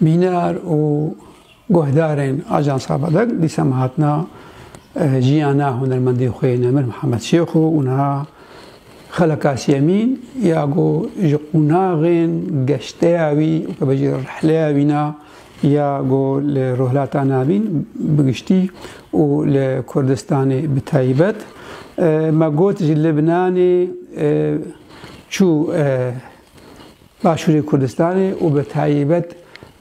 Mînar û guhdarên Ajansa Badag dîsem hatina jiyana hunermendê xwe yê Nemir Mihemed Şêx û niha Xela Kasiyemîn ya ku ji qûnaxên geşteya wî û tebe jî rihleya wî na ya ku li Rojhilata Navîn bi giştî û li Kurdistanê bi taybet me got ji Libnanê çû Başûrê Kurdistanê û bi taybet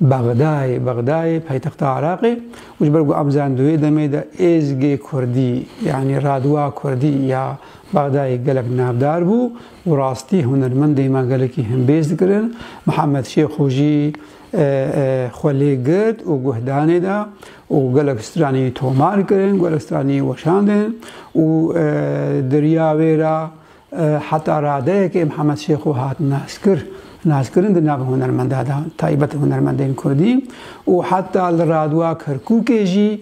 Bexdayê, Bexdayê paytexta Iraqê û ji ber ku em zanin di wê demê de êzgê kurdî yanî radwa kurdî ya Bexdayê gelek navdar bû û rastî hunermendên me gelekî himbêz dikirin, Mihemed Şêxo jî xwe lê girt û guhdanê da û gelek stranî tomar kirin, gelek stranî weşandin û di riya wê re Heta radeyekê Mihemed Şêxo hat naskir naskirin di nav hunermendan de taybet hunermendên Kurdî û heta li Radwa Kerkûkê jî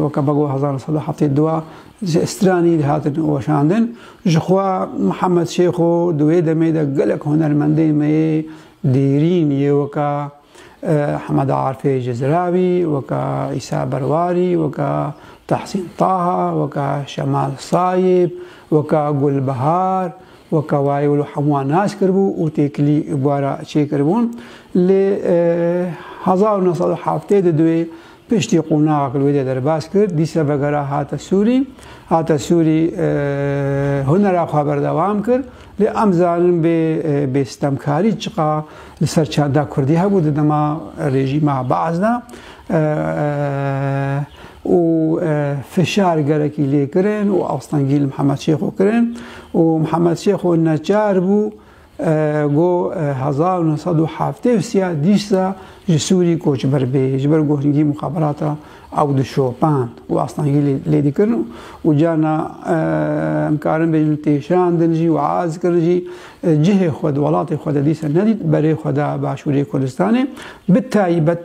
weke bego hezar nî sed û heftê du ji stranî dihatin weşandin. Jixwe Mihemed Şêxo di wê demê de gelek hunermendên me yê dêrîn yê weke Hemeda Arfê Cizrawî, weka Îsa Berwarî, weka Tahsîn Taha, weka Şemal Sayîb, weka Gulbihar, weka wayê wilo hemûan nas kiribû û têkilî bara çêkiribûn. Lê hezar û neh sed û heftê di duê Piştî qonaxa ku li wê de derbas kir, dîsa vegera hate Sûrî. Hate Sûrî hunera xwe berdewam kir. Lê em zanin bê bê stemkarî çiqa li ser çanda Kurdî hebû di dema rejîma Baas de û fişar gelekî lê kirin û astengî li Mihemed Şêxo kirin û Mihemed Şêxo neçar bû Go hezar û neh sed û heftê û sî a dîsa ji Sûrî koçber bê ji ber ku hingî muxaberata ew di şopan û astengî lê dikirin û carna em karin bêjin têşandin jî û az kirin jî cihê xwe di welatê xwe de dîsa nedît berê xwe da Başûrê Kurdistanê bi taybet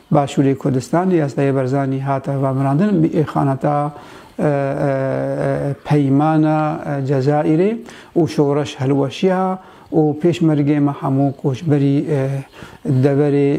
Başûrê Kurdistanê ya Seyê Barzanî hat hevamrandin bi îxanata Peymana Cezayirê û Şoreş Hilweşiya û Pêşmergeyê me hemû koçberî deverê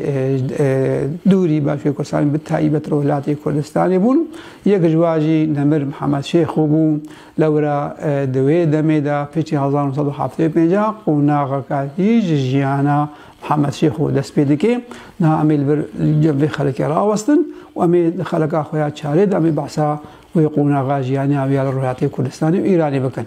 dûrî Başûrê Kurdistanê bi taybet Rojhilatê Kurdistanê bûn. Yek ji wan jî Nemir Mihemed Şêxo bû. Lewra di wê demê de piştî hezar û nod û heft û pêncî qonaxeke hîj ji jiyana Hemed Şêxo dest pê dike, niha em ê li vir cem vê xelekê rawestin û em ê di xeleka xwe ya çarê de em ê behsa wê qonaxa jiyaniya wê ya li Rojhilatê Kurdistanê û Îranê bikin.